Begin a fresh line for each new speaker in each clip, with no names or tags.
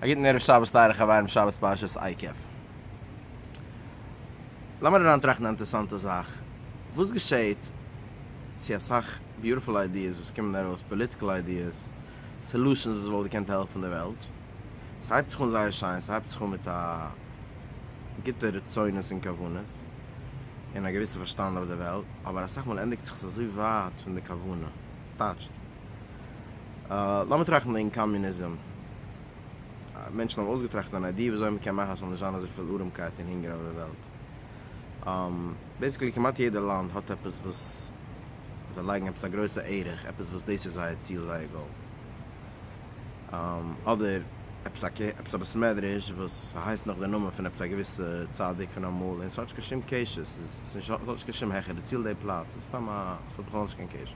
א גוטן ערב שבת טייערע חברים שבת פרשת עקב. לאמיר אריינטראכטן א אינטערסאנטע זאך, וואס געשעהט צו אסאך ביוטיפול איידיעס וואס קומען ארויס, פאליטיקעל איידיעס, סעלושענס וואס וואלט געקענט העלפן די וועלט, ס'הייבט זיך אן זייער שיין, ס'הייבט זיך אן מיט א גוטע רצונות און כוונות, און א געוויסע פארשטאנד אויף די וועלט, אבער אסאך מאל ענדיגט זיך עס אזוי ווייט פון די כוונה, ס'טייטשט. לאמיר טראכטן וועגן קאמיוניזם. מענטשן האבן אויסגעטראכט אן איידיע וויאזוי מען קען מאכן אז ס'זאל נישט זיין אזויפיל ארעמקייט און הונגער אויף דער וועלט. בעיסיקלי כמעט יעדע לאנד האט עפעס וואס זיי לייגן עפעס א גרויסע ערך, עפעס וואס דאס איז זייער ציל, זייער גאול. אדער עפעס א קעפ, עפעס א בית מדרש וואס ס'הייסט נאך די נאמען פון עפעס א געוויסע צדיק פון אמאל, און ס'האט נישט קיין שום קשר, ס'האט נישט קיין שום העכערע ציל די פלאץ, ס'איז סתם א, ס'האט בכלל נישט קיין קשר.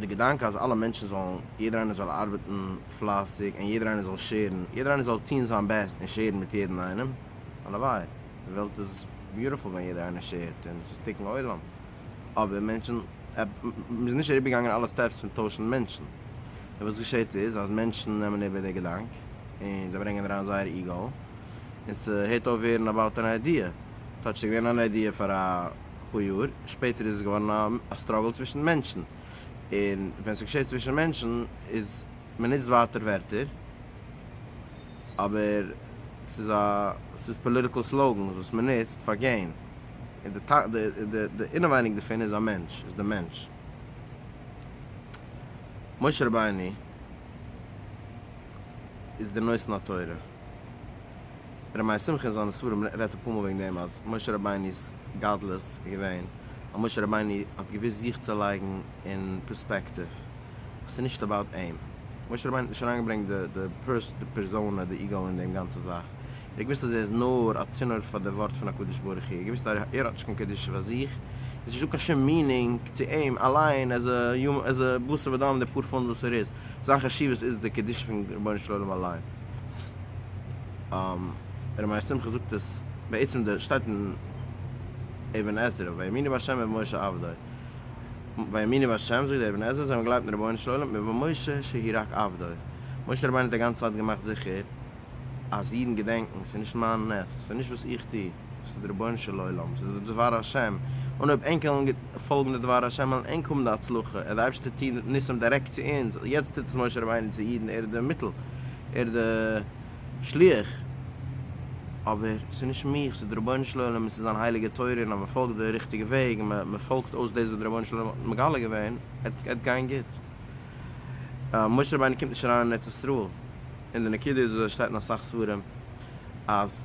די געדאנק אז אלע מענטשן זאלן, יעדער איינער זאל ארבעטן פלייסיג און יעדער איינער זאל שעירן, יעדער איינער זאל טוהן זיין בעסט און שעירן מיט יעדן איינעם, הלוואי, די וועלט איז ביוטיפול ווען יעדער איינער שעירט און ס'איז תיקון עולם, אבער מענטשן, מ'איז נישט אריבערגעגאנגען אלע סטעפס פון טוישן מענטשן, און וואס געשעהט איז אז מענטשן נעמען איבער די געדאנק און זיי ברענגען אריין זייער איגאו און ס'הערט אויף ווערן אבאוט אן איידיע, טאטש ס'איז געווען אן איידיע פאר א. אפאר יאר שפעטער איז עס געווארן א סטראגל צווישן מענטשן, און ווען ס'געשעט צווישן מענטשן איז מ'נוצט ווייטער ווערטער, אבער ס'איז א ס'איז פאליטיקעל סלאוגענס וואס מ'נוצט פאר געין, און די די אינעווייניג דערפון איז א מענטש, איז די מענטש. משה רבינו איז דער נותן התורה. ר' מאיר שמחה אין זיינע ספרים רעדט אפאר מאל וועגן דעם אז משה רבינו'ס גדלות איז געווען אז משה רבינו האט געוואוסט זיך צו לייגן אין פערספעקטיוו אז ס'איז נישט אבאוט אים, משה רבינו האט נישט אריינגעברענגט די פערזאנע, די איגאו אין דעם גאנצע זאך, ער האט געוואוסט אז ער איז נאר א צינור פאר די ווארט פון הקדוש ברוך הוא, ער האט געוואוסט אז ער האט נישט קיין קדושה פאר זיך, עס איז נישט דא קיין שום מינינג צו אים אליין עז א בשר ודם די פאר פונט וואס ער איז, זיין חשיבות איז די קדושה פון רבונו של עולם אליין. ר' מאיר שמחה זאגט עס בעצם די שטייט אין אבן עזרא ויאמינו בהשם ובמשה עבדו ויאמינו בהשם זאגט די אבן עזרא זיי האבן געגלייבט אין רבונו של עולם און במשה שהי' רק עבדו משה רבינו האט די גאנצע צייט געמאכט זיכער אז אידן געדענקן ס'איז נישט מיין נס ס'איז נישט וואס איך טו. ס'איז די רבונו של עולם, ס'איז די דבר השם, און אויב ענק וועלן פאלגן די דבר השם וועלן ענק האבן די הצלחה, ער די אייבשטער טוהן ניסים דירעקט צו אונז, יעצט טוט עס משה רבינו צו אידן, ער איז די מיטל, ער איז די שליח, אבער ס'איז נישט מיך, ס'איז די רבונו של עולם און ס'איז זיין הייליגע תורה און אז מען פאלגט די ריכטיגע וועג און מען פאלגט אויס דאס וואס די רבונו של עולם האט מגלה געווען, עט גיין גוט. משה רבינו קומט נישט אריין אין ארץ ישראל, און די נקודה איז וואס עס שטייט אין אסאך ספרים אז.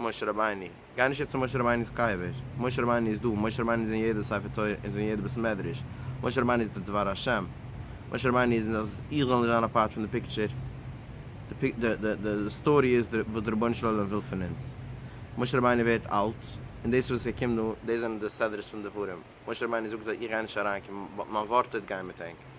משה רבינו, גיי נישט יעצט צו משה רבינו'ס קבר, משה רבינו איז דא, משה רבינו איז אין יעדע ספר תורה און איז אין יעדע בית מדרש, משה רבינו איז די דבר השם, משה רבינו איז נישט אז איך זאל נישט זיין א פארט פון די פיקטשער, די סטארי איז וואס די רבונו של עולם וויל פון אונז, משה רבינו ווערט אלט, און דאס וואס ער קומט דא, דאס זענען די סדרות פון דברים, משה רבינו זאגט זיי איך גיי נישט אריין קומען, מיין ווארט טוט גיין מיט ענק.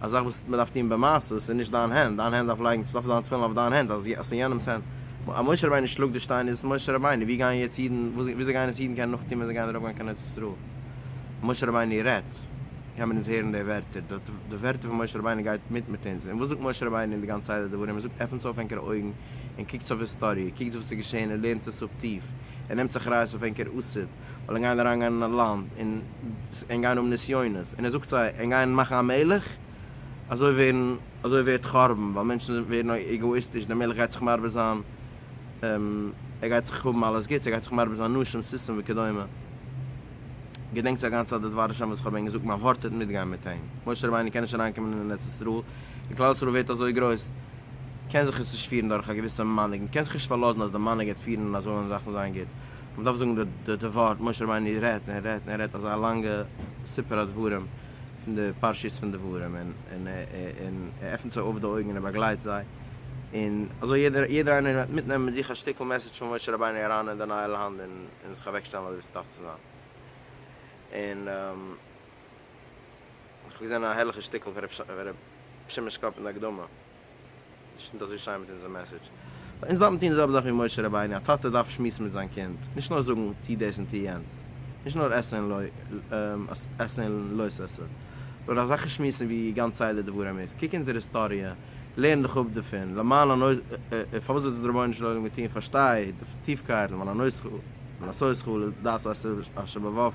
א זאך וואס מען דארף טון במעשה, עס איז נישט דיין הענט, דיין הענט דארף לייגן סוף זיין תפילין אויף דיין הענט, אז עס איז יענעמס הענט, אז משה רבינו שלאגט די שטיין איז עס משה רבינו, ווי גייען יעצט אידן, וויאזוי גייען עס אידן קענען נאכטון ווען זיי גייען ארויפגיין קיין ארץ ישראל, משה רבינו רעדט, קען מען אונז הערן די ווערטער, די ווערטער פון משה רבינו גייט מיט מיט אונז, און וואס זאגט משה רבינו אין די גאנצע סדר דברים, ער זאגט עפנטס אויף ענקערע אויגן און קוקטס אויף היסטאריע, קוקטס וואס איז געשען און לערנטס עס אפ טיף, און נעמטס אחריות אויף ענקער עתיד. ווייל ענק גייען אריינגיין אין א לאנד און ענק גייען האבן נסיונות, און ער זאגט זיי, ענק גייען מאכן א מלך, אזוי ווערן, אזוי ווערט חורבן, ווייל מענטשן ווערן עגאאיסטיש, דער מלך גייט זיך מרבה זיין, ער גייט זיך האבן אלעס גוטס, ער גייט זיך מרבה זיין נשים סוסים וכדומה, געדענקטס א גאנצע צייט די דבר השם וואס כ'האב ענק געזאגט, מען ווארטעט מיטגיין מיט אים, משה רבינו קען נישט אריינקומען אין ארץ ישראל, און כלל ישראל ווערט אזוי גרויס, קען זיך עס נישט פירן דורך א געוויסע מנהיג, מען קען זיך נישט פארלאזן אז די מנהיג גייט פירן און אזוי וועלן זאכן זיין גוט, מען דארף זאגן די ווארט, משה רבינו רעדט און ער רעדט און ער רעדט אזא לאנגע סיפור הדברים פון די פרשיות פון דברים און און ער עפענט זיי אויף די אויגן און ער באגלייט זיי און אזוי יעדער יעדער איינער וועט מיטנעמען מיט זיך א שטיקל מעסעדזש פון משה רבינו אריין אין די נייע לאנד און און זיך אוועק שטעלן אזוי ווי ס'דארף צו זיין און איך האב געזען א הערליכע שטיקל פון ר' שמעון'ס קאפ אין די הקדמה. איז נישט אזוי שיין מיט אונזער מעסעדזש. ווייל אונז דארפן טון די זעלבע זאך ווי משה רבינו, א טאטע דארף שמועסן מיט זיין קינד, נישט נאר זאגן טו דאס און טו יענץ, נישט נאר עשה און לא עשה און לא תעשה, נאר אזעלכע שמועסן ווי גאנץ סדר דברים איז, קוק אונזער היסטאריע, לערן דיך אפ דערפון, למען הנושא, פארוואס האט עס דער רבונו של עולם געטון, פארשטיי די טיפקייט, למען הנושא, לעשות כל דעת אשר בבבך,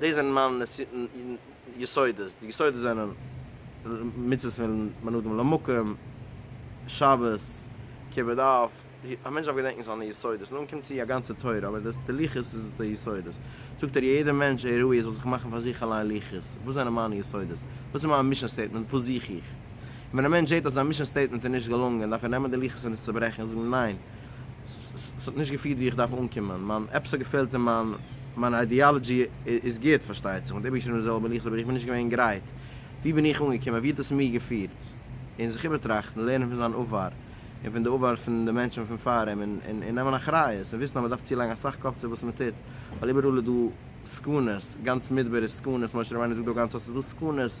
דאס זענען מיינע יסודות, די יסודות זענען מצוות פון בין אדם למקום, שבת, כיבוד אב, א מענטש דארף געדענקן זיינע יסודות, נאכדעם קומט צו א גאנצע תורה, אבער די לוחות איז די יסודות, זאגט ער יעדער מענטש ער ראוי ער זאל זיך מאכן פאר זיך אליין לוחות, וואס זענען מיינע יסודות, וואס איז מיין מישען סטעיטמענט, וואס זוך איך, און ווען א מענטש זעט אז זיין מישען סטעיטמענט איז נישט געלונגען, דארף ער נעמען די לוחות און עס צוברעכן און זאגן ניין. ס'האט נישט געפירט ווי איך דארף אנקומען, מיין עפעס האט געפעלט און מיין מיין איידיאלעדזשי איז גוט פארשטייט זיך, און איבערגעשריבן די זעלבע ליכט אבער איך בין נישט געווען גרייט, ווי בין איך אנגעקומען, ווי האט עס מיר געפירט, און זיך איבערטראכטן, לערנען פון זיין עבר, און פון די עבר פון די מענטשן פון פאר אים, און און נעמען אחריות, און וויסן אז מען דארף צולייגן אסאך קאפ צו וואס מען טוט, ווייל איבעראל איז דא סכנות, גאנץ מדבר איז סכנות, משה רבינו זאגט דא גאנץ ארט איז דא סכנות,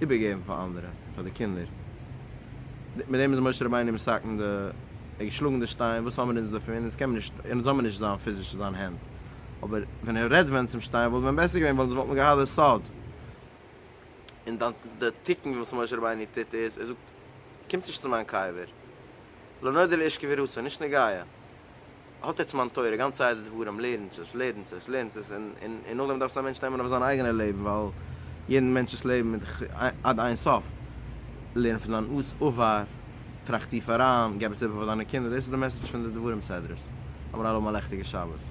איבערגעבן פאר אנדערע, פאר די קינדער. מיט דעם איז משה רבינו מסכן די, ער האט געשלאגן די שטיין, וואס האבן אונז דערפון, אונז קען מען נישט, אונז האבן נישט זיין פיזישע זיין הענט, אבער ווען ער רעדט ווען צום שטיין וואלט ווען בעסער געווען וואלט וואלט מען געהאט די סוד. און דאן די תיקון וואס משה רבינו טוט איז, ער זאגט, קומטס נישט צו מיין קבר, לא נודע לאיש קביר הוסי', נישט נוגע. האט עטס מיין תורה, גאנץ סדר דברים, לערנטס עס, לערנטס עס, לערנטס עס, און און נאכדעם דארף עס א מענטש נעמען אויף זיין אייגענע לעבן, ווייל יעדן מענטש'ס לעבן איז דאך עד אין סוף. לערן פון דיין עבר, טראכט טיף אריין, געב עס איבער פאר דיינע קינדער, דאס איז די מעסעדזש פון די דברים סדר'ס. האמיר אלעמאל א לעכטיגע שבת.